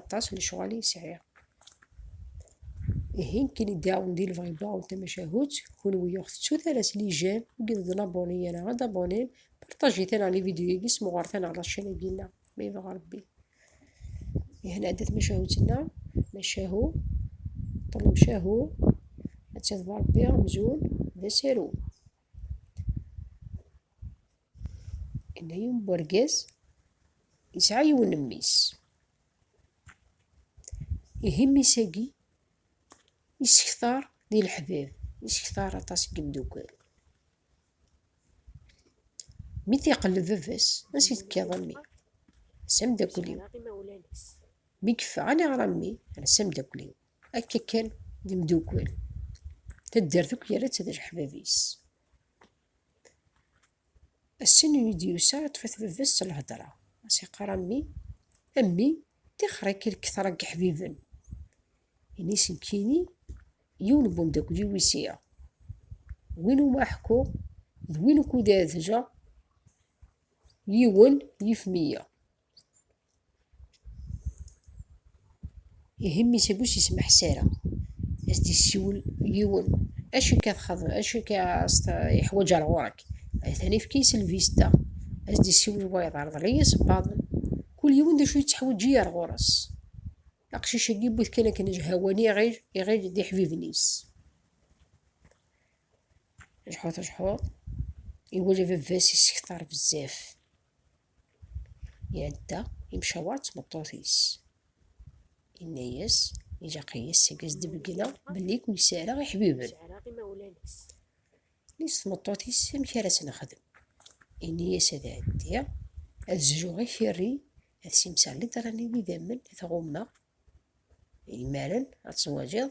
aṭas lecɣal i sɛiɣ. Ihi nekkini ddaɛwen di lbɣiba n tamacahut, kunwi ur ɣ-tettu tara s lijam, ur yi-d-ḍen aboni ara ad abonim, partajit-aneɣ lividyu-agi, smuɣret-aneɣ ɣer ccan-agi-nneɣ, ma yebɣa Rebbi. Ihi nɛedda tamacahut-nneɣ, macahu, ṭṭlem cahu, atta d Rebbi amzun d asaru. Yenna yiwen n urgaz yesɛa yiwen n mmi-s. Ihi mmi-s-agi isektar di leḥbab, isektar aṭas n yimdukal. Mi t-iqelleb baba-s, ansi tekkiḍ a mmi? S ameddakel-iw. Mi yeffeɣ, aniɣer a mmi? S ameddakel-iw. Akka kan d imdukal. Taddart akk yerra-tt d leḥbab-is. Ass-n i d-yusa iṭṭef-it baba-s s lhedra, a s-iqqar a mmi, a mmi, tixer-ik i lketṛa n yeḥbiben. Ini-s nekkini yiwen n wemdakel-iw i sɛiɣ, win umi ara ḥkuɣ d win ukud ara d-geɣ yiwen yif meyya. Ihi mmi s uggus yesmeḥ Sara, as d yessiwel yiwen, acu akka txeḍ, acu akka as t yeḥwaǧ ar ɣur-k? Atan ifka yis lvista, as d yessiwel wayeḍ, rḍel iyi isebbaḍen, kul yiwen d acu yettḥewǧi ar ɣur-s. Aqcic agi yewwi-t kan akken jhawani iɣil, iɣil d iḥbiben-is. Jḥut jḥut, iwala baba-s isektar bezzaf. Iɛedda imcaweṛ d tmeṭṭut-is. Inna-yas, ilaq-iyi seg ad d-beggneɣ belli i kem-sɛireɣ iḥbiben. Ini-s tmeṭṭut-is amek ara tt-nexdem. Ini-yas ad ɛeddiɣ, ad zruɣ ikerri, ad simseɣ litṛan n yidammen, ad t-ɣummeɣ. Imaren ad teẓwaǧeḍ,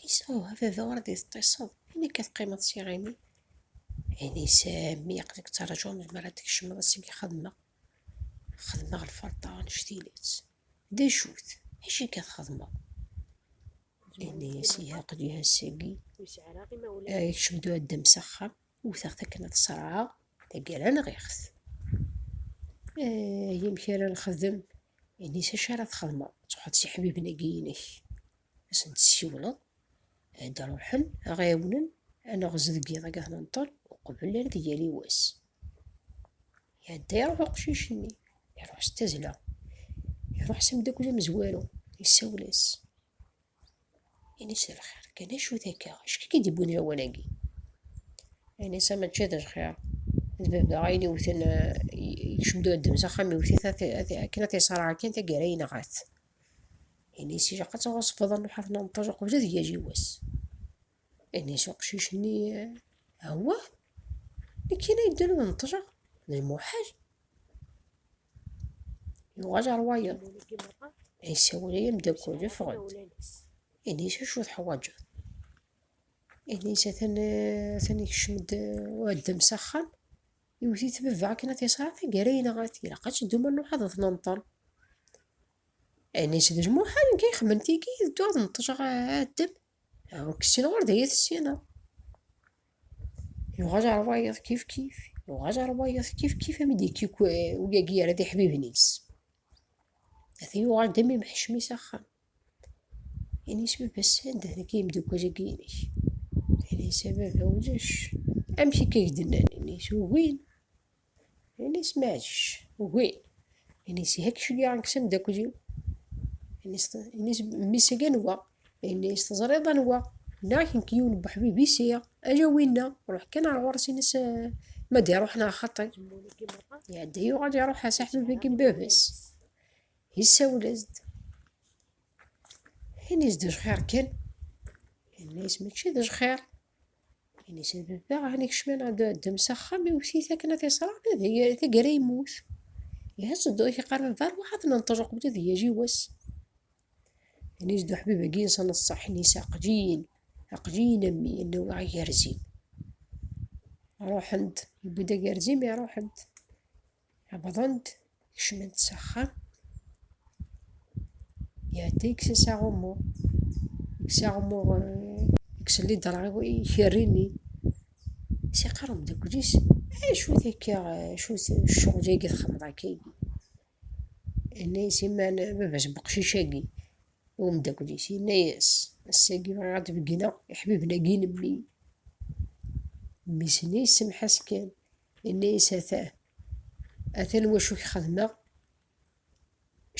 Ɛisa, a baba ur d-teṭṭiseḍ, i nekk ad teqqimeḍ s iɣimi? Ɛisa, a mmi aql-ik ttraǧuɣ melmi ara d-tkecmeḍ, ass agi xedmeɣ, xedmeɣ lferṭa annect-ilat. D acu-t? Acu akka txedmeḍ? Ɛisa, ihi aql-i ass-agi, ikcem-d uɛeddam s axxam, wteɣ-t akken ad t-ṣerɛeɣ, taggara nɣiɣ-t. Ayi, amek ara nxedem? Ɛisa, acu ara txedmeḍ? Ttruḥeḍ s iḥbiben-agi-inek. asen tessiwleḍ ad ruḥen a ɣ-ɛiwnen a neɣz deg yiḍ agi ad nenṭel uqbel ad yali wass iɛedda iruḥ uqcic-nni iruḥ s tazla iruḥ s amdakel amezwaru yessawel-as ini-s d lxir kan acu takka acu k-id iwwin lawan-agi ini-s mačči d lxir d baba ayen iwten eh, yekcem-d uddem s axxam iwet-it akken ad t-iṣreɛ kan taggara yenɣa-t Ini-as ilaq ad tɣeṣbeḍ a Nḥaf n Ṭṭaj uqbel ad yagi wass. Ini-as uqcic-nni Awwa, nekk kan ay yeddun ad neṭṭjeɣ, d lmuḥal. Yuɣal ɣer wayeḍ, yessawel ay ameddakel, ffeɣ-d. Ini-as acu teḥwaǧeḍ. Ini-as atan atan ikcem-d uɛeddam s axxam, Iwet-itt baba akken ad t-iṣeɛer taggara yenɣa-t, ilaq ad teddu ma nruḥ ad t-nenṭel. Anis d lmuḥal nekk ay xemmen tigi ad dduɣ ad neṭṭjeɣ addem, ur k-ssineɣ ur d ay t-ssineɣ. Yuɣal ɣer wayeḍ kifkif, yuɣal ɣer wayeḍ kifkif am i d-ikkik uyagi yerra tiḥbibin-is. Ata yuɣal d am imḥecmi s axxam. Ini-as baba sanda deg yimdukal-agi-inek? Ini-as a baba ulac. Amek akka i k-d-nnan? Ini-as ugin. Ini-as meɛǧec, ugin. Ini-as ihi akka ceggɛen-k s amdakel-iw? Ini-as mmi-s agi anwa? Ini-as teẓriḍ anwa? Nniɣ-ak nekk yiwen n uḥbib i sɛiɣ, ala winna. Ruḥ kan ar ɣur-s ini-as ma d-iruḥ neɣ xaṭi. Iɛedda yuɣal iruḥ-as aḥbib-agi n baba-s. Yessawel-as-d. Ini-s d ajxir kan. Ini-s mačči d ajxir. Ini-s d baba ɛni kecmen ad ddem s axxam iwet-it akken ad t-iṣreɣ tagara yemmut. Ihaz d ak iqarben var waḥad n ṭṭej uqbel ad yaji wass. Ini-s d uḥbib agi insan ṣṣeḥ ini-s aqjiyin aqjiyin a mmi yenna wa agarzin. Ruḥen-d, yewwi-d agarzin mi ruḥen-d. Wwḍen-d, kecmen-d s axxam. Iɛedda ikkes-as aɣummu. Ikkes aɣummu, ikkes lidra ikerri-nni. Si qqar umdakel-is, acu-t akka, acu-t ccɣel-agi txedmeḍ akka-agi? Yenna-yas iman baba-s n weqcic-agi, i umdakel-is, yenna-yas, ass-agi bɣiɣ ad d-beggneɣ iḥbiben-agi n mmi. Mmi-s-nni yessemḥas kan, Inna-yas, Ata, atan wacu k-xedmeɣ,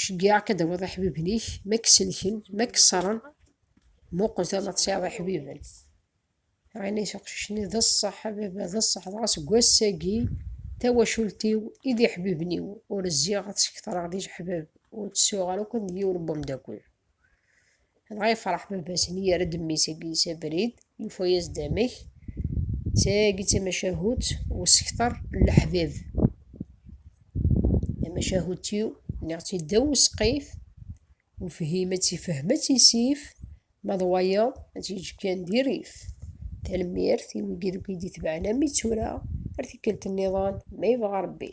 ceggiɛeɣ-k ad tawiḍ iḥbiben-ik, ma k-selken, ma k-ṣṣren, muqel tura ma tesɛiḍ iḥbiben. Inna-yas uqcic-nni, D ṣṣeḥ a baba, d ṣṣeḥ, dɣa seg wass-agi tawacult-iw i d iḥbiben-iw, ur zziɣ ad tt-ketreɣ d ijeḥbab, ur tt-sɛuɣ ara akk d yiwen n wemdakel. dɣa yefreḥ baba-sen yerra-d mmi-s agi s abrid yufa-yas-d amek tagi d tamacahut usekter n leḥbib tamacahut-iw nniɣ-tt-id ddaw usqif ufhim ad tifhem ad tisif ma d wayeḍ ad tiǧ kan di rif tanemmirt i wigi deg i d-itebɛen am i tura ar tikkelt nniḍen ma yebɣa rebbi